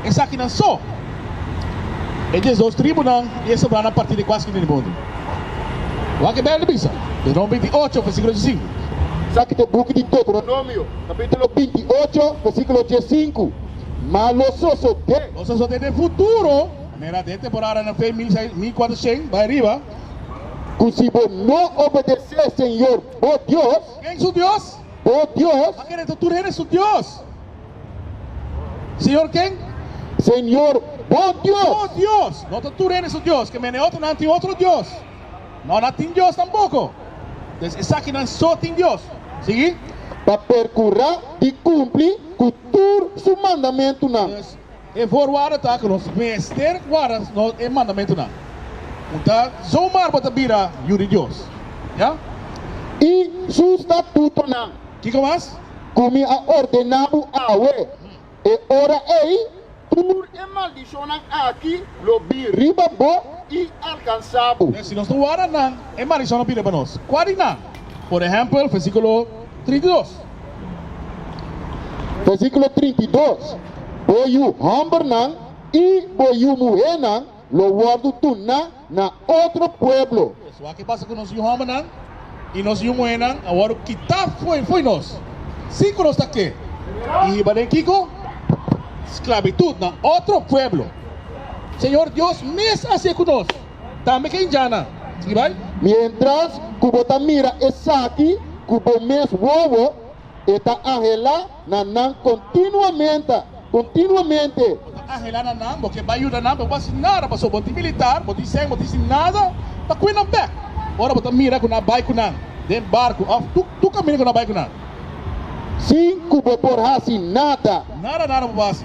Esakinan so, e dies dos tribunan di e sebrana parti di kuaskun den e mundu. Wak e Beibel bisa, Deutronum binti i ocho, versíkulo die sinku. Esaki ta e buki di Deuteronomio, kapítulo binti i ocho, versíkulo die sinku. Ma lo sosodé. Lo sosodé den futuro. Manera de e temporada na fe mil seis, mil cuatrocen bai riba. Cu si bo no obedecé Señor bo Dios. Ken su Dios? Bo Dios. A kere ta tur hende su Dios. Señor ken? Señor bo Dios. Bo Dios. No ta tur hende su Dios. Ke mene otro nan tin otro Dios? No, nan tin Dios tampoco. Entonces esaki nan so tin Dios. Sigui. Pa percurá di cumpli cu. tur su mandamentunan. Pues, e voorwaarde ta ku nos mester guarda e mandamentunan. Punta, Zomaar bo ta bira Yu di Dios? Ya. I su statutonan. Kiko mas? Ku mi a ordena bo awe, e ora ei. Tur e maldishonnan aki lo bin riba bo i alkansá bo. Si nos no warda nan, e maldishon lo bin riba nos. Kua di nan? Por ehèmpel, versíkulo trinta i dos. Versíkulo trinta i dos, Bo yu hòmbernan i bo yu muhénan lo wòrdu tuná na otro pueblo. Esua ke pasa ku nos yu hòmbernan i nos yu muhernan a wòrdu kitá fo'i fo'i nos, sin ku nos ta ke i hiba den kiko? Sklabitut na otro pueblo. Señor Dios mes a hasié ku nos tambe ke hinjana, si bai? Miéntras ku bo ta mira esaki ku bo mes wowo, e ta ahelá. na nan continuamente, continuamente. Bo ta angela na nan, bo ke bai yuda nan, pero bo bo a hasi nada, pasobra bo tin militar, bo tin seng, bo tin hasi nada pa kui nan bek. Ora bo ta mira ku nan bai ku nan den barku of tur tur kaminda ku nan bai ku nan. Sin ku bo por hasi nada. Nada nada bo por hasi.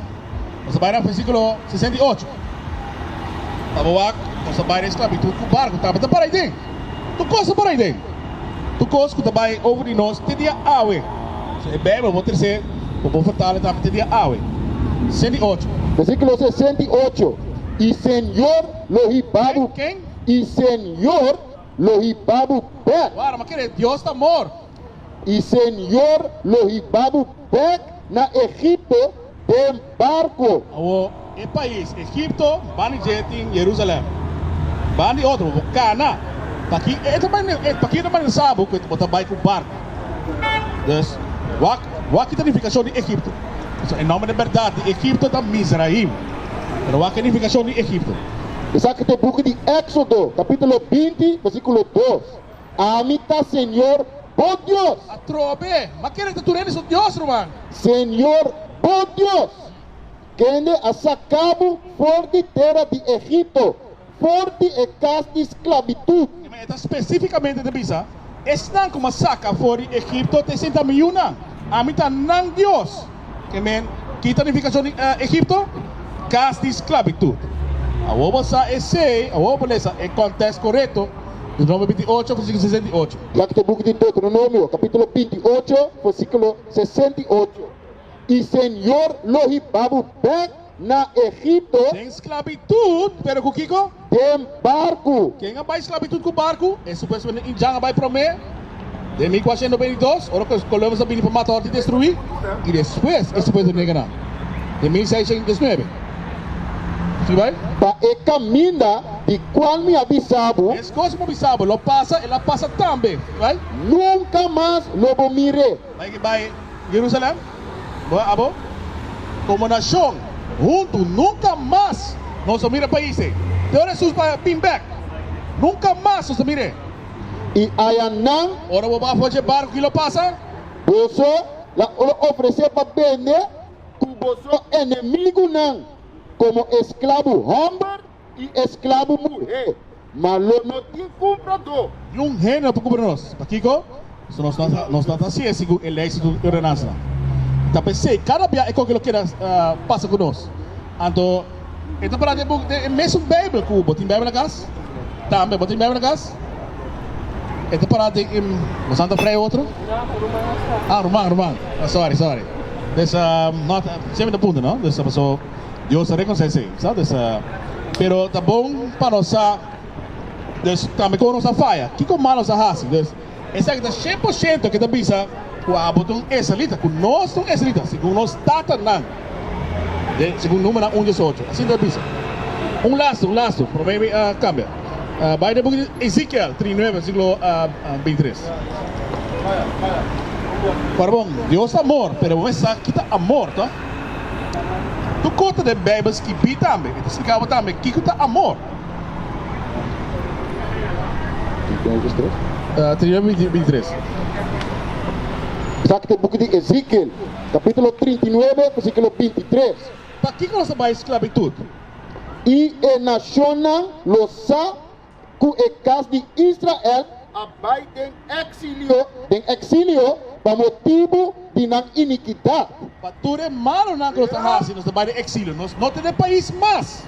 Nos ta bai na versikulo sesenta i ocho. Pa bo wak, nos ta bai den esklabitut ku barku tabata para ayi tin. Tur cosa por ayden. Tur cos cu ta bay over di nos te dia awe. So e Bijbel bo trece pa bo vertala tambe te dia awe. Sesenta i ocho. Versiculo sesenta i ocho, I Señor lo hibabub, i Señor lo hibabub bek. Wara, ma kere Dios ta amor. I Señor lo hiba bo bek na Egipto den barco. Awor, e pais Egipto ban di dje tin Jerusalem, ban di otro, bo kana, p'aki e ta bai, p'aki e ta manera sa bo ku bo ta bai ku barco. Dus, wak, wak kita nifikashon di Egipto. Pasobra e nòmber den bèrdat di Egipto ta Mizraim. Pero wak e nifikashon di Egipto. Esaki ta e buki di Éxodo, kapítulo binti, bèrsikulo dos. Ami ta Señor bo Dios. A trobe! Ma kende ta turende su Dios, ruman? Señor bo Dios, kende a saka bo for di tera di Egipto, for di e kas di sklabitut. Te, ma e ta spesífikamente ta bisa, Esnan ku mi a saka for di Egipto te sentamiuna. Ami ta nan Dios. E men kita unifikashon di Egipto, kas di sklabitut. Awor bo sa esei, awor bo lesa e kòntèks korekto, Deuteronomio binti i ocho, versíkulo sesenta i ocho. Lak ta buki di Deuteronomio, kapítulo binti i ocho, versíkulo sesenta i ocho, I señor lo hibabu bèk. na Egipto. Den sklabitut, pero ku kiko? Den barku. Ken a bai sklabitut ku barku? E supuestamente un djan a bai promé, den mil kuatrocientos noventa i dos, ora ku kolonos a bini pa mata òrdu destruí, i despues e supuesto nega nan, den mil seiscientos dieznuebe. Si bai? Pa e kaminda di kual mi a bisa bo. Es kos ku mi a bisa bo lo pasa, el a pasa tambe. Si bai? Nunka mas lo bo mir'é. Bai ki bai. Jerusalem, bo abo komo nashon huntu, nunka mas nos a mira pais ei. Te ora Hesus bai a bin bek, nunka mas nos a mira e. I aya nan. Ora bo bafo dje barku i lo pasa. Boso la lo ofresé pa bende ku boso enemigunan komo esklabu hòmber. I esclabo muhé ma lo no tin cumprador. Ni un hende no por cubra nos. Pakico? Pasobra nos no ta, nos no ta haci e segun e leynan cu e ordenansanan. I ta pesey cada bia e con cu lo keda pasa cu nos. Anto, e ta para den buk den e mesun Bijbel cu bo tin Bijbel na cas? Tambe bo tin Bijbel na cas? E ta para den e. Nos anda vrij otro? Ah, ruman, ruman. Sorry, sorry. Des, nota, siempre ta punta, no? Des, paso. Dios ta reconoce esey, sa dus. Pero ta bon pa nos sa, dus, tambe con nos a faya, kico mal nos a haci. Dus, esaki ta shen por shento ke ta bisa cu abo ta un israelita, cu nos ta un israelita, segun nos tatanan, den, segun Numenan un diesocho. Asina ta bisa. Un lastu, un lastu, prome mi a cambia. Bai den buki di Ezekiel tri nueve, versículo binti tres. Ora bon, Dios ta amor, pero bon e sa ki ta amor, to. Tur kota den Beibel skibí tambe e ta spliká bo tambe kiko ta amor. Esaki ta e buki di Ezikiel, kapítulo trinta i nuebe, versíkulo binti tres. Pakiko nos a bai sklabitut? I e nashonnan lo sa ku e kas di Israel a bai den eksilio, den eksilio pa motibu di nan inikidat. Pa tur e malonan ku nos a hasi, nos a bai den eksilio, nos no tene pais mas.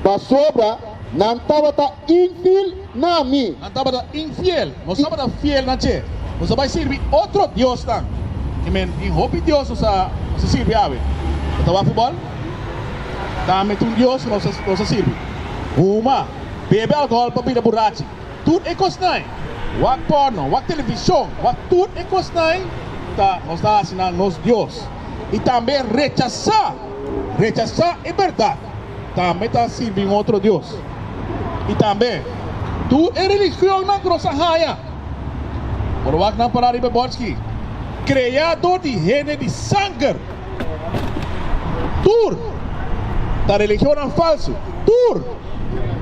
Pasobra nan tabata infiel na mi. Nan tabata infiel, nos tabata fiel na dje. Nos a bai sirbi otro diosnan. I men, tin hopi dios nos a sirbi awe. Bo ta wak futbòl? Tambe ta un dios ku nos a sirbi. Huma, bebe alkohol pa bira burachi, tur e kosnan, wak porno, wak televishon, wak tur e kosnan ta nos ta hasi nan nos dios. I tambe rechasá, rechasá e bèrdat, tambe ta sirbi un otro dios. I tambe tur e religionnan ku nos a haña, por wak nan pará riba e bòrchi, kreá dor di hende di sanger. Tur ta religionnan falsu, tur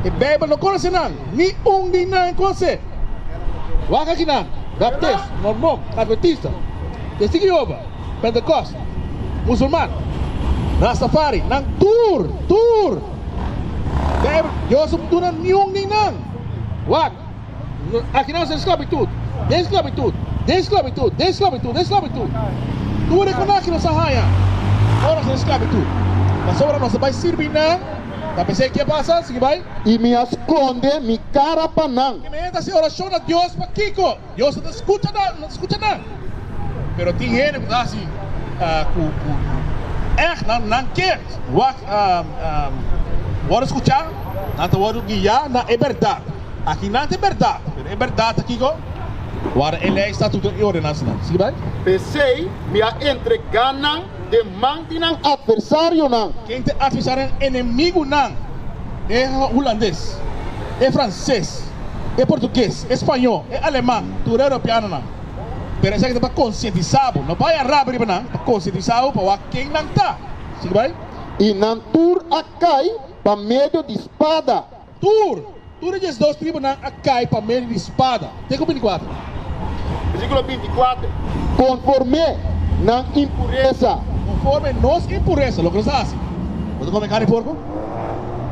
e Bijbel no conoce nan, ni un di nan conoce. Waak aki nan, Baptist, Mormon, Adventista, Testigo di Jehova, Pentecost, Musulman, Rastafari, nan tur, tur Bijbel Dios no duna niun di nan. Waak. Akinan sa esklabitut, den esklabitut, den esklabitut, den esklabitut, den esklabitut. Tur e konakji nos a haña ora nos ta na esklabitut. Pasobra nos a bai sirbi nan, ta pensá i ke a pasa? Sigui bai. I mi a skonde mi kara pa nan. Ke hende a hasi orashon na Dios pa kiko? Dios no ta skucha nan, no ta skucha nan. Pero tin hende ku ta hasi ku ègt nan ke wak wòrdu skuchá, nan ta wòrdu guiá na e bèrdat. Aki nan ta e bèrdat, pero e bèrdat ta kiko? Wara e lei statuto i ordenansanan. Sigui bai. P'esei mi a entregá nan den man di nan atversarionan. Ken ta e atversarionan? Enemigunan. E hulandes, e franses, e portuges, e spañó, e aleman, tur e europeanonan. Pero esaki ta pa konsientisá bo. No bai a rabi riba nan, pa konsientisá bo pa wak ken nan ta. Sigui bai. I nan tur a kai pa medio di spada. Tur, tur e diesdos tribunan a kai pa medio di spada. Ke ku bini kuater? Versíkulo binti kuater. Konforme nan impuresa. Konforme nos impuresa. Loke nos a hasi? Bo ta kome karni di porko?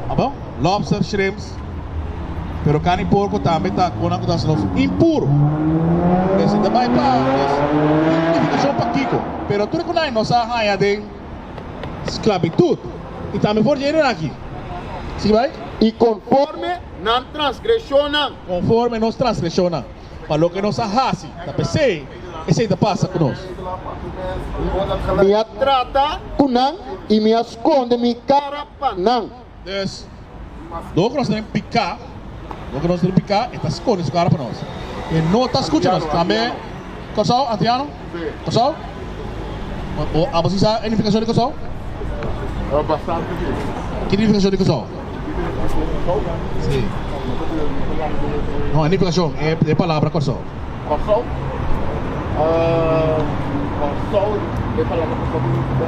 Abo? Lobster, shrimps. Pero karni di porko tambe ta kon nan ku ta hasi nos impur. Entonces ta bai pa nos identifikashon pa kiko. Pero tur e konai nos a haña den sklabitut, i tambe for di e renaki. Sigui bai. I konforme nan transgreshonnan. Konforme nos transgreshonnan. Pa loke nos a hasi ta p'esei, esei ta pasa ku nos. Mi a trata ku nan i mi a skonde mi kara pa nan. Des dor ku nos ta den piká, dor ku nos ta den piká, e ta skone su kara pa nos. E no ta skucha nos. Tambe Kòrsou, antiano? Kòrsou? Bo a bosio sa e nifikashon di Kòrsou? Ki nifikashon di Kòrsou? Si. No, e nifikashon, e palabra Kòrsou. Kòrsou? Kòrsou, e palabra Kòrsou signifika.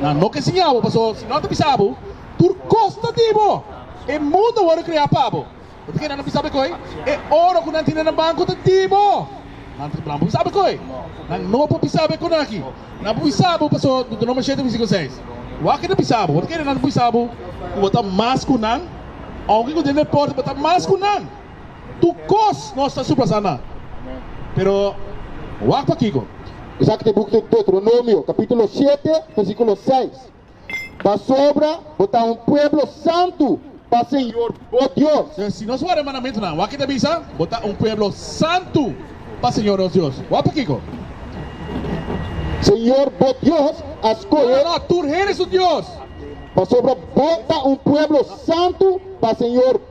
Nan no ke siña bo, pasobra si nan ta bisa bo, tur kosta di bo, e mundu a wòrdu kreá pa bo. Bo ta keda na bisa bekoi? E oro ku nan tene na banku ta di bo. Nan ta nan por bisa bekoi? Nan no por bisa be konanki. Nan por bisa bo, pasobra Deuteronomio shete versikulo seis, Wak e ta bisa bo. Bo ta keda nan ta bisa bo ku bo ta mas ku nan, ounke ku den e pòrta bo ta mas ku nan? Tur kos nos ta supla sana. Pero wak pa kiko? Esaki ta e buk di Deuteronomio kapitulo shete versikulo seis, Pasobra bo ta un pueblo santu pa Señor bo Dios. Enton si nos wardá e mandamentunan, wak e ta bisa, Bo ta un pueblo santu pa Señor nos Dios. Wak pa kiko? Señor bo Dios a skohe. No, no, tur hende su Dios. Pasobra bo ta un pueblo santu pa Señor.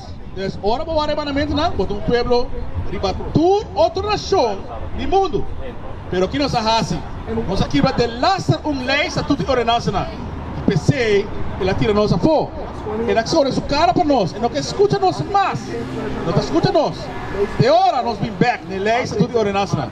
Entonces, ora bo wak e mandamentunan, bo ta un pueblo riba tur otro nacion di mundu. Pero ki nos a haci? Nos a kibra den laster un ley sa tutu e ordenansanan, y pesey el a tira nos afo. El a corre su cara pa nos, el no ke scucha nos mas. No ta scucha nos. Te ora nos bin bek n'e ley sa tutu e ordenansanan.